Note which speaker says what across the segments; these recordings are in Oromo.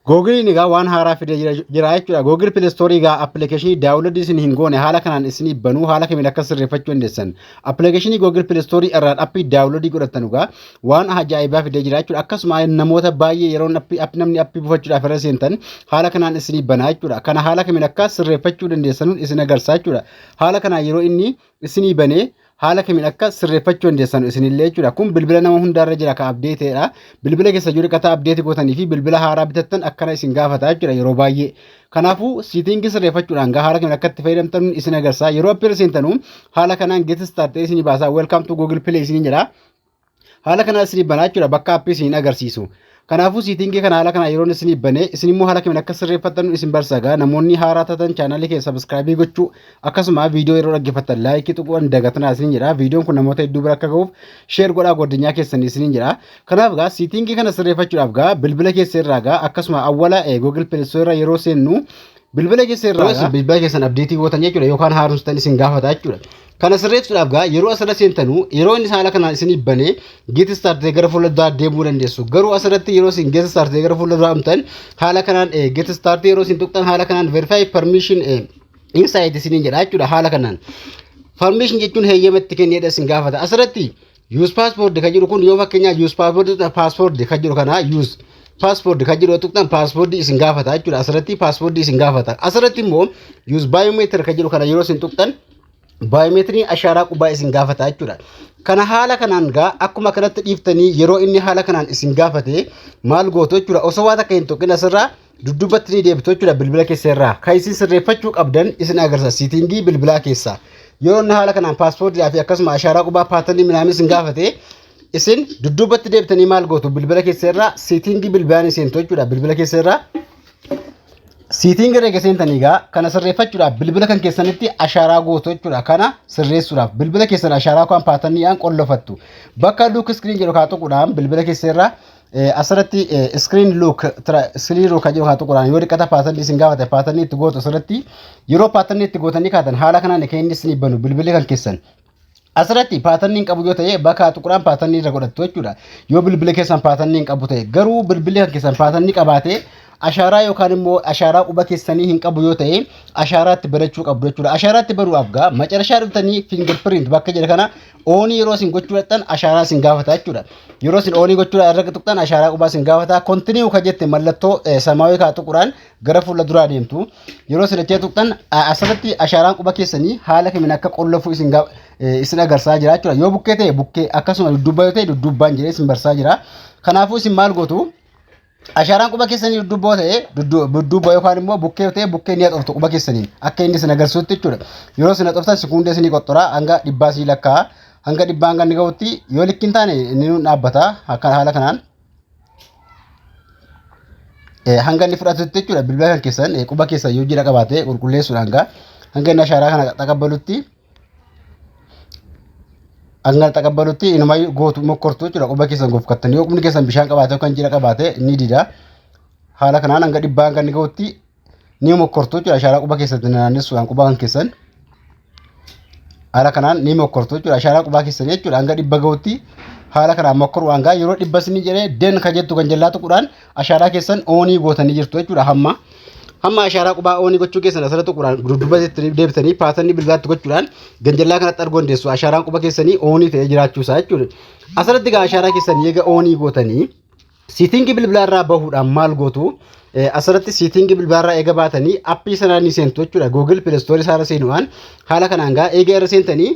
Speaker 1: Googiliin egaa waan haaraa fidee jira jira jechuudha. Googil Pilestoorii egaa appilikeeshinii daawunloodii isin hin goone haala kanaan isinii banuu haala kamiin akka sirreeffachuu dandeessan. Appilikeeshinii Googil Pilestoorii irraan appii daawunloodii godhattan egaa waan ajaa'ibaa fidee jira jechuudha. Akkasuma namoota baay'ee yeroo appi- app- namni appii buufachuudhaaf irra seentan haala kanaan isinii banaa jechuudha. Kana haala kamiin akka sirreeffachuu dandeessanuun isin agarsiisa jechuudha. Haala kanaan yeroo inni isinii banee haala kamiin akka sirreeffachuu dandeessan isinillee jechuudha. Kun bilbila nama hundaarra jira ka abdeeteedha. Bilbila keessa jiru dhiqataa abdeeti gootanii fi bilbila haaraa bitattan akkana isin gaafata jechuudha yeroo baay'ee. Kanaafuu siitingii sirreeffachuudhaan gaa haala kamiin akka itti fayyadamtan isin agarsiisa. Yeroo appii irra seentanu haala kanaan get start ta'ee isin baasaa welcome to google play isin jedha. Haala kanaa isinii banaa jechuudha bakka appii isiniin agarsiisu. Kanaafuu siitingii kana haala kanaa yeroon isinii banee isin immoo haala kamiin akka sirreeffattan isin barsagaa namoonni haaraa taatan chaanaalii kee sabiskiraabii gochuu akkasuma viidiyoo yeroo dhaggeeffattan laayikii tuquu hin dagatinaa isiniin jedha viidiyoon kun namoota hedduu bira akka ga'uuf sheer godhaa godinyaa keessan isiniin jedha kanaaf gaa siitingii kana sirreeffachuudhaaf gaa bilbila keessa irraa gaa akkasuma awwala google pelisoo irra yeroo seennu bilbila keessa irraa bilbila keessan abdeetii gootan jechuudha yookaan haaromsitan isin gaafata jechuudha Kana sirreessuudhaaf gaa yeroo asirra seentanu yeroo inni haala kanaan isinii bane git start gara fuula duraa deemuu dandeessu. Garuu asirratti yeroo isin get start gara fuula duraa dhumtan haala kanaan get start yeroo isin tuqxan haala kanaan verify permission inside isiniin jedha jechuudha haala kanaan. Permission jechuun heeyyama itti kenneedha isin gaafata. Asirratti Use password kan jedhu kun yoo fakkeenyaaf use password tuqxan password kan jedhu kana use password kan jedhu tuqxan password isin gaafata jechuudha asirratti password isin gaafata asirratti immoo use biometric kan jedhu kana yeroo isin tuqxan baayomeetiriin ashaaraa qubaa isin gaafata jechuudha. Kana haala kanaan gaa akkuma kanatti dhiiftanii yeroo inni haala kanaan isin gaafate maal gootu jechuudha osoo waan akka hin tuqin asirraa duddubbatti ni deebitu jechuudha bilbila keessa irraa kan isin sirreeffachuu qabdan isin agarsiisa siitingii bilbilaa keessa yeroo inni haala kanaan paaspoortiidhaa fi akkasuma ashaaraa qubaa paatanii minaamin isin gaafate isin dudduubatti deebitanii maal gootu bilbila keessa irraa siitingii bilbilaa ni seentu jechuudha bilbila keessa irraa siitingii reega seentanii egaa kana sirreeffachuudhaaf bilbila kan keessanitti ashaaraa gootu jechuudha kana sirreessuudhaaf bilbila keessan ashaaraa kan paataniidhaan qollofattu bakka duuk iskiriin jedhu kaa tuquudhaan bilbila keessa irraa Asirratti screen look screen look kan jedhu haa tuquraan yoo xiqqata paatanni isin gaafate paatanni itti gootu asirratti yeroo paatanni itti gootanii kaatan haala kanaan kan inni isin banu bilbilli kan keessan Asirratti paatanni hin qabu yoo ta'e bakka tuquraan paatanni irra godhattu jechuudha. Yoo bilbilli keessan paatanni hin qabu ta'e garuu bilbilli kan keessan paatanni qabaate ashaaraa yookaan immoo ashaaraa quba keessanii hin qabu yoo ta'e ashaaraatti barachuu qabdu jechuudha. Ashaaraatti baruudhaaf gaa macarashaa dhuftanii fingerprint bakka jedha kana oonii yeroo isin gochuu dhaqxan ashaaraa isin gaafata jechuudha. Yeroo isin oonii gochuu irra tuqxan ashaaraa qubaa isin gaafata. Kontiniiw kan jette mallattoo samaawii kaa tuquraan gara fuula duraa deemtu. Yeroo isin achee tuqxan asirratti ashaaraan quba keessanii haala kamiin akka qollofuu isin isin agarsaa jira jechuudha. Yoo bukkee ta'e bukkee akkasuma dudduubbaa yoo ta'e dudduubbaan jedhee isin barsaa jira. Kanaafuu isin maal gootu? Ashaaraan quba keessanii duddubboo ta'ee duddubboo yookaan immoo bukkee ta'ee bukkee ni haxoftu quba keessaniin akka inni isin agarsiisutti jechuudha. Yeroo isin haxoftan sekuundee isinii qoxxora hanga dhibbaa isinii lakkaa'a. Hanga dhibbaa hanga inni ga'utti yoo likki hin taane inni nuun dhaabbata akka haala kanaan. Hanga inni fudhatutti jechuudha bilbila kan keessan quba keessan yoo jira qabaate qulqulleessuudhaan hanga inni ashaaraa kana qaqqabalutti. Hanga taqabbalutti inuma gootu mokkortu jechuudha quba keessan gofkattanii yoo qubni keessan bishaan qabaate yookaan jiidha qabaate ni dida. Haala kanaan hanga dhibbaa hanga inni gahutti ni mokkortu jechuudha ashaaraa quba keessatti naannessuudhaan quba kan keessan. Haala kanaan ni mokkortu jechuudha ashaaraa qubaa keessan jechuudha hanga dhibba gahutti haala kanaan mokkoruudhaan gaa yeroo dhibba isin jedhee den kan jettu kan jallaa tuquudhaan ashaaraa keessan oonii gootanii jirtu jechuudha hamma. Hamma ashaaraa qubaa oonii gochuu keessan asirra tuquudhaan dudduuba jettanii deebitanii paatanii bilbilaatti gochuudhaan ganjallaa kanatti arguu dandeessu ashaaraan quba keessanii oonii ta'ee jiraachuu isaa jechuudha. Asirratti egaa ashaaraa keessan eega oonii gootanii siitingii bilbilaa irraa bahuudhaan maal gootu Eh, asirratti siitingii bilbilaa irraa eega baatanii appii sanaa ni seentu jechuudha. Google Play Store isaarra seenuudhaan haala kanaan gaa eega irra seentanii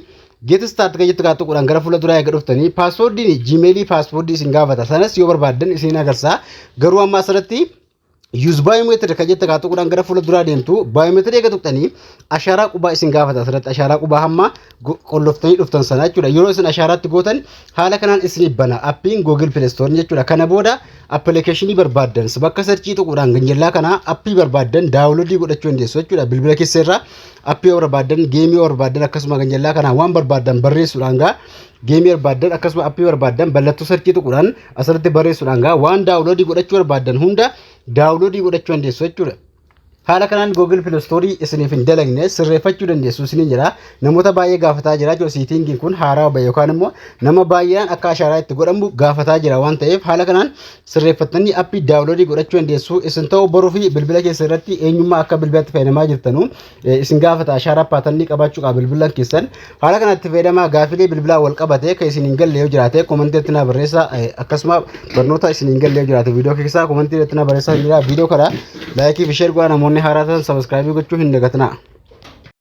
Speaker 1: Get start kan jettu kaa tuquudhaan gara fuula duraa eega dhuftanii paaswoordiin jiimeelii paaswoordii isin gaafata sanas yoo barbaaddan isin agarsiisa garuu amma asirratti yuuz baayoomeetirii kan jettu kaa tuquudhaan gara fuula duraa deemtu baayoomeetirii eega tuqxanii ashaaraa qubaa isin gaafata asirratti ashaaraa qubaa hamma go- qolloftanii dhuftan sana jechuudha yeroo isin ashaaraatti gootan haala kanaan isin bana appiin googil pileestoorii jechuudha kana booda appilikeeshinii barbaaddan bakka sarchii tuquudhaan ganjallaa kana appii barbaaddan daawuloodii godhachuu dandeessu jechuudha bilbila keesseerraa appii yoo barbaaddan geemii yoo barbaaddan akkasuma kan jallaa kanaan waan barbaaddan barreessuudhaan gaa geemii barbaaddan akkasuma appii barbaaddan ballattuu sarchii tuquudhaan asirratti barreessuudhaan gaa waan daawuloodii godhachuu barbaaddan hunda daawuloodii godhachuu dandeessu jechuudha. Haala kanaan Google Play Store isiniif hin dalagne sirreeffachuu dandeessu isiniin jira. Namoota baay'ee gaafataa jira jechuudha siitingiin kun haaraa bahe yookaan immoo nama baay'een akka ashaaraa itti godhamu gaafataa jira waan ta'eef haala kanaan sirreeffattanii appii daawunloodii godhachuu dandeessu. Isin ta'uu boruu fi bilbila keessa irratti eenyummaa akka bilbilatti fayyadamaa jirtanu isin gaafata ashaaraa paatannii qabaachuu qaba bilbilan keessan. Haala kanatti fayyadamaa gaafilee bilbilaa wal qabate kan isin hin galle yoo jiraate komantii irratti naa barreessa akkasuma barnoota isin hin galle yoo jiraate viidiyoo keessaa komantii irratti naa barreessa jira viidiyoo kana laayikii fi sheer godhaa namoonni haaraa ta'an sabiskiraabii gochuu hin dagatinaa.